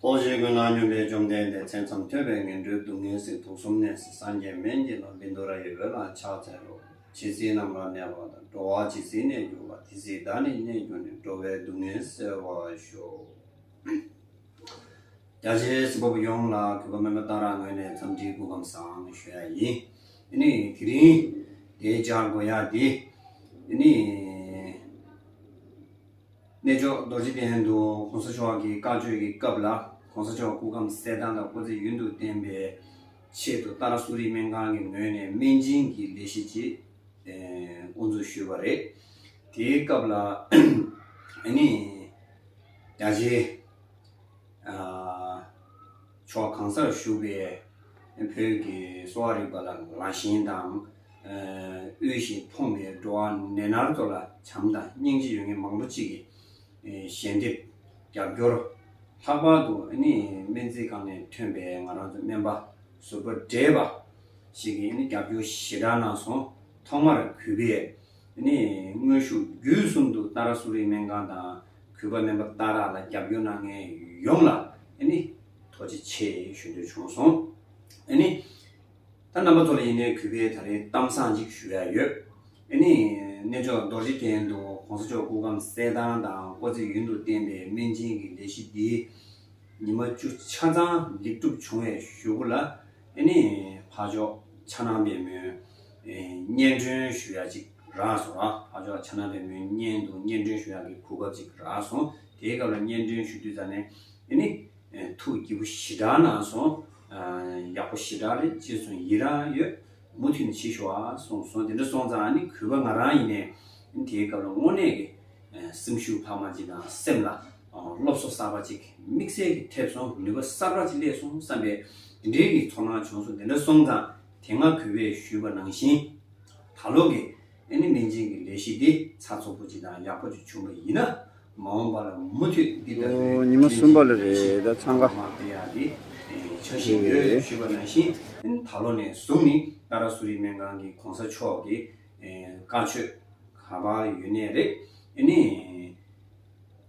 ལྟོ་འཕྱེ་ཀུན་སྣང་སྙོམས་པའི་བཅོམ་ལྡན་འདས་མཚན་ཙམ་ཐོས་པས་ངན་འགྲོའི་སྡུག་བསྔལ་སྲིད་དུག་གསུམ་གནས་སུ་སངས་རྒྱས་མན་ཇི་ལ་བིནྡུ་ར་ཡི་འོད་ལ་ཕྱག་འཚལ་ལོ། ཇི་སྲིད་རྣམས་ལ་གནས་པ་དང་འགྲོ་བ་ཇི་སྲིད་གནས་གྱུར་པ་དེ་སྲིད་བདག་ནི་གནས་གྱུར་ནས་འགྲོ་བའི་སྡུག་བསྔལ་སེལ་བར་ཤོག། རྒྱ་ཆེའི་སྤྱི་བབ་ཡོངས་ལ་གུས་པ་མོས་པ་ལྟར་ངོས་ནས་འཚམས་འདྲིའི་སྐུ་ཁམས་བཟང་ཞུ་ཡ་ཡིན། དེ་ནི་དེ་རིང་འདའི་བཅར་དགོས་ཡ་དེ། དེ་ནི། གནས་མཆོག་རྡོ་རྗེ་གདན་དུ་གོང་ས་མཆོག་གི་བཀའ་ཆོས་ཀྱི་སྐབས་ལ་གོང་ས་མཆོག་སྐུ་ཁམས་གསལ་ཐང་དང་སྐུ་ཚེ་ཡུན་དུ་བརྟན་པའི་ཆེད་དུ་ཏཱ་ར་སུ་རིའི་སྨན་ཁང་གི་ངོས་ནས་སྨན་སྦྱིན་གྱི་ལས་གཞི་ཅིག་དབུ་འཛུགས་ཞུས་པ་རེད། དེའི་སྐབས་ལ། དེ་ནི། རྒྱ་ཆེའི། ཕྱོགས་གང་སར་བཞུགས་པའི་བོད་ཀྱི་གསོ་བ་རིག་པ་ལ་ལ་ཞེན་དང། དབུལ་ཞིང་ཕོངས་པའི་འགྲོ་བ་ནད་མནར་ཚོ་ལ་བྱམས་དང་སྙིང་རྗེ་ཡོད་མཁན་མང་པོ་གཅིག་གིས་ཞལ་འདེབས་རྒྱབ་སྐྱོར། ལྷག་པར་དུ་སྨན་རྩིས་ཁང་ནས་ཐོན་པའི་ང་རང་ཚོ་སྨན་པ་ཟུར་པ་བགྲེས་པ་ཞིག་གིས་རྒྱབ་སྐྱོར་ཞེ་དྲག་གནང་སོང། ཐོག་མར་གུས་པས་དེ་ནས་དངོས་ཤུགས་བརྒྱུད་གསུམ་དུ་ཏཱ་ར་སུ་རིའི་སྨན་ཁང་དང་གུས་པ་སྨན་པ་ཏཱ་ར་ལ་རྒྱབ་སྐྱོར་གནང་མཁན་ཡོངས་ལ་ཐུགས་རྗེ་ཆེ་ཞུ་འདོད་བྱུང་སོང། ད་རྣམ་པ་ཚོ་ལ་ཡིན་ནའི་གུས་པས་ད་རེས་གཏམ་བཟང་གཅིག་ཞུ་ཡ་ཡོད། གནས་མཆོག་རྡོ་རྗེ་གདན་དུ་གོང་ས་མཆོག་སྐུ་ཁམས་གསལ་ཐང་དང་བཀོད་ཚེ་ཡུན་དུ་བརྟན་པའི་སྨན་སྦྱིན་གྱི་ལས་གཞི་འདི་ཉི་མ་བཅུ་ཆ་ཚང་ལེགས་གྲུབ་བྱུང་བའི་ཞུ་སྐུ་ལ་འཕགས་མཆོག་ཕྱག་ན་པའི་མོས། སྙན་སྒྲོན་ཞུ་ཡག་ཅིག་རག་སོང་ཨ། ཨ་ཅོག་ཕྱག་ན་བེ་མོའི་སྙན་དུ་སྙན་སྒྲོན་ཞུ་ཡག་གི་གོ་སྐབས་ཅིག་རག་སོང་དེའི་སྐབས་ལ་སྙན་སྒྲོན་ཞུ་དུས་ཙང་ནས་འདི་ནི། ཐུགས་སྐྱིད་པོ་ཞི་དྲག་གནང་སོང། ཡག་པོ་ཞི་དྲག་རེད་ཅེས་སོང་ཡིད་རང་ཡོད། མུ་མཐུད་ནས་བྱེད་ཤོག་ཨ་སོང་སོང་དེ་འདྲ་སོང་ཙང་ནི་གུས་པ་ང་རང་ཡིན་ནས། དེའི་སྐབས་ལ་དངོས་གནས་ཀྱི་སེམས་ཤུགས་འཕར་མ་ཅིག་དང་སེམས་ལ་སློབ་གསོ་གསར་པ་ཅིག་དམིགས་བསལ་གྱི་ཐེབས་སོང་ནུས་པ་གསར་པ་ཅིག་སླེབས་སོང་བསམ་པའི་དེ་འདྲའི་གི་ཚོར་སྣང་བྱུང་སོང་དེ་འདྲ་སོང་ཙང་དེ་སྔ་གུས་པས་ཞུས་པ་ནང་བཞིན། ད་ལོ་གི་ཨེ་ནི་མིང་ཅན་གྱི་ལས་གཞི་འདི་ཚ་ཚོགས་པོ་ཅིག་དང་ཡག་པོ་ཅིག་བྱུང་བ་ཡིན་ན། མ་འོངས་པ་ལ་མུ་མཐུད་འདི་ལྟ་བུའི་ཉིན་མོ་གསུམ་པ་ལ་རེ་ད་འཚང་ཁ། མ་སྟེ་ཡག་དེ་ཆགས་བཞིན་ཡོད་ཞུས་པ་ནང་བཞིན། ད་ལོ་ནས་བཟུང་ནི་ཏཱ་ར་སུ་རི་སྨན་ཁང་གི་གོང་ས་མཆོག་གི་བཀའ་ཆོས་ག་པ་ཡོད་གནས་རེད་ཨེ་ནི།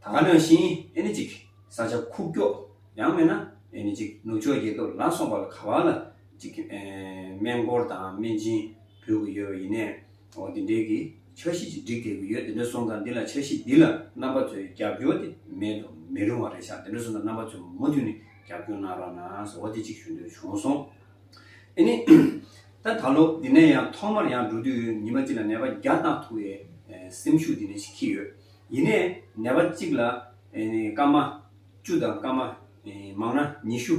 ད་ག་ནང་བཞིན་ཨེ་ནི་ཅིག་ས་ཆ་ཁུག་ཀྱོག་ཡང་མེད་ན་ཨེ་ནི་ཅིག་ནུབ་ཕྱོགས་རྒྱལ་ཁབ་ལ་སོང་པ་ལ་ག་པ་ལ། གཅིག་སྨན་སྐོར་དང་སྨན་སྦྱིན་ཕུལ་དགོས་ཡོད་པ་ཡིན་ནས། འོ་དེ་འདྲའི་གི་འཆར་གཞི་ཅིག་སྒྲིག་དགོས་ཀྱི་ཡོད་དེ་འདྲ་སོང་ཙང་འདི་ལ་འཆར་གཞི་འདི་ལ་རྣམ་པ་ཚོའི་རྒྱབ་སྐྱོར་དེ་མེད་དུ་མི་རུང་བ་རེད་ཤག་དེ་འདྲ་སོང་ཙང་རྣམ་པ་ཚོས་མུ་མཐུད་ནས་རྒྱབ་སྐྱོར་གནང་རོགས་གནང་ཟེར་བ་དེ་གཅིག་ཞུ་འདོད་བྱུང་སོང། ཨེ་ནི། ད་ད་ལོ་འདི་ནས་ཡང་ཐོག་མར་ཡང་འགྲོ་དུས་ཉི་མ་གཅིག་ལ་ནད་པ་བརྒྱ་བཏང་ཐུབ་བའི་སེམས་ཤུགས་འདི་ནས་ཤིག་ཁྱི་ཡོད། ཡིན་ནས་ནད་པ་གཅིག་ལ་ཨེ་ནི་སྐར་མ། བཅུ་དང་སྐར་མ། མང་ན་ཉི་ཤུ།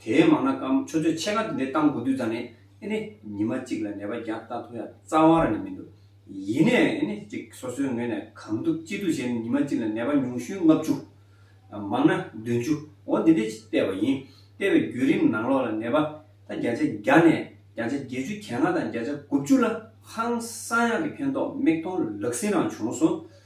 དེའི་མང་ན་སྐར་མ་ཆུ་ཚོད་ཕྱེད་ཀ་དེ་འདྲའི་བཏང་དགོས་དུས་ཙང་ནས་ནི་ཉི་མ་གཅིག་ལ་ནད་པ་བརྒྱ་བཏང་ཐུབ་ཡང་རྩ་བ་ར་ནི་མི་འདུག་ཡིན་ནས་ནི་གཅིག་སོ་སོའི་ངོས་ནས་གང་ཐུབ་ཅི་ཐུབ་བྱས་ནས་ཉི་མ་གཅིག་ལ་ནད་པ་ཉུང་ཤུན་ལྔ་བཅུ། མང་ན་བདུན་བཅུ་འོ་འདི་འདྲའི་བལྟས་པ་ཡིན། བལྟས་པའི་བརྒྱུད་རིམ་ནང་ལོགས་ལ་ནད་པ་ད་བརྒྱ་ཆ་བརྒྱ་ནས་བརྒྱ་ཆ་བརྒྱད་ཅུ་གྱ་ལྔ་དང་བརྒྱ་ཆ་དགུ་བཅུ་ལ་ཧང་སང་ཡག་གི་ཕན་ཐོགས་མིག་མཐོང་ལག་ཟིན་རང་བྱུང་སོང།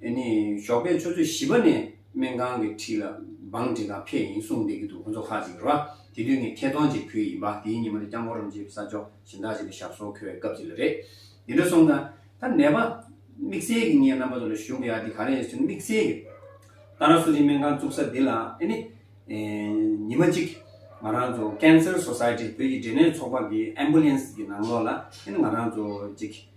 དེ་ནས་ཞོགས་པའི་ཆུ་ཚོད་བཞི་པ་ནས་སྨན་ཁང་གི་འཁྲིས་ལ་བང་འགྲིན་དང་ཕེབས་ཡིན་གསུངས་བསྡད་ཀྱི་འདུག་ཁོ་ཚོ་ཁག་ཅིག་རོ། དེ་དུས་ངས་ཁེ་གདོང་ཅིག་ཕུལ་ཡིན་པ་དེའི་ཉིན་མོ་དེ་སྐྱབས་མགོན་རོམ་ཅེ་བི་ས་མཆོག་གཞན་དག་ཅིག་ལ་ཞབས་སོར་འཁོད་པའི་སྐབས་ཅིག་ལ་རེད། དེ་འདྲ་གསུངས་དང། ད་ནད་པ། དམིགས་བསལ་གྱི་ངའི་རྣམ་པ་ཚོ་ལ་ཞུ་དགོས་ཡ་དེ་ག་རེ་ཡིན་ཟེར་ན་དམིགས་བསལ་གྱི། ཏཱ་ར་སུ་རིའི་སྨན་ཁང་བཙུགས་ས་འདི་ལ་ཨེ་ནི། ཉིན་མ་གཅིག། ང་རང་ཚོ Cancer Society བོད་ཀྱི་འབྲས་ནད་ཚོགས་པ་གི Ambulance གི་ནང་ལོགས་ལ་ཨེ་ནི་ང་རང་ཚོ་ཅིག།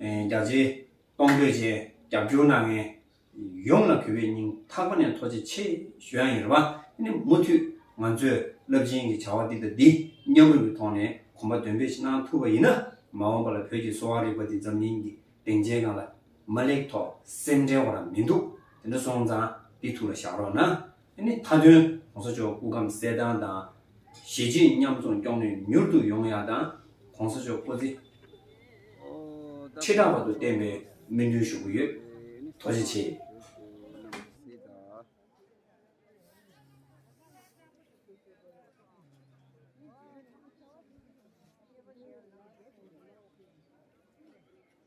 རྒྱ་རྩེ། གཏོང་ཕོད་བཅས་རྒྱབ་སྐྱོར་གནང་མཁན་ཡོངས་ལ་གུས་པའི་སྙིང་ཐག་པ་ནས་ཐོག་བརྩེ་ཆེ་ཞུ་ཡང་ཡིན། མུ་མཐུད་ང་ཚོས་རླབས་ཆེན་གྱི་བྱ་བ་འདི་དང་འདི་མཉམ་རུབ་ཀྱི་ཐོག་ནས་གོམ་པ་འདོན་སྤེལ་གནང་ཐུབ་པ་ཡིན་ན་མ་འོངས་པ་ལ་བོད་ཀྱི་གསོ་བ་རིག་པ་འདི་འཛམ་གླིང་གི་སྡིངས་ཆའི་སྒང་ལ་མ་ལེགས་ཐོག་སེམས་འཁྲལ་བ་རང་མི་འདུག་དེ་འདྲ་སོང་ཙང་འདི་ཐུགས་ལ་བཞག་རོགས་གནང། དེ་ནི་མཐའ་དོན་གོང་ས་མཆོག་སྐུ་ཁམས་གསལ་ཐང་དང། གཞི་གཅིག་མཉམ་འཛོམས་སྐྱོང་ནུས་མྱུར་དུ་ཡོང་ཡག་དང་གོང་ས་མཆོག་སྐུ་ཚེ་ཁྲི་དྲག་པ་དུ་བརྟན་པའི་སྨོན་འདུན་ཞུ་གི་ཡོད། ཐུགས་རྗེ་ཆེ།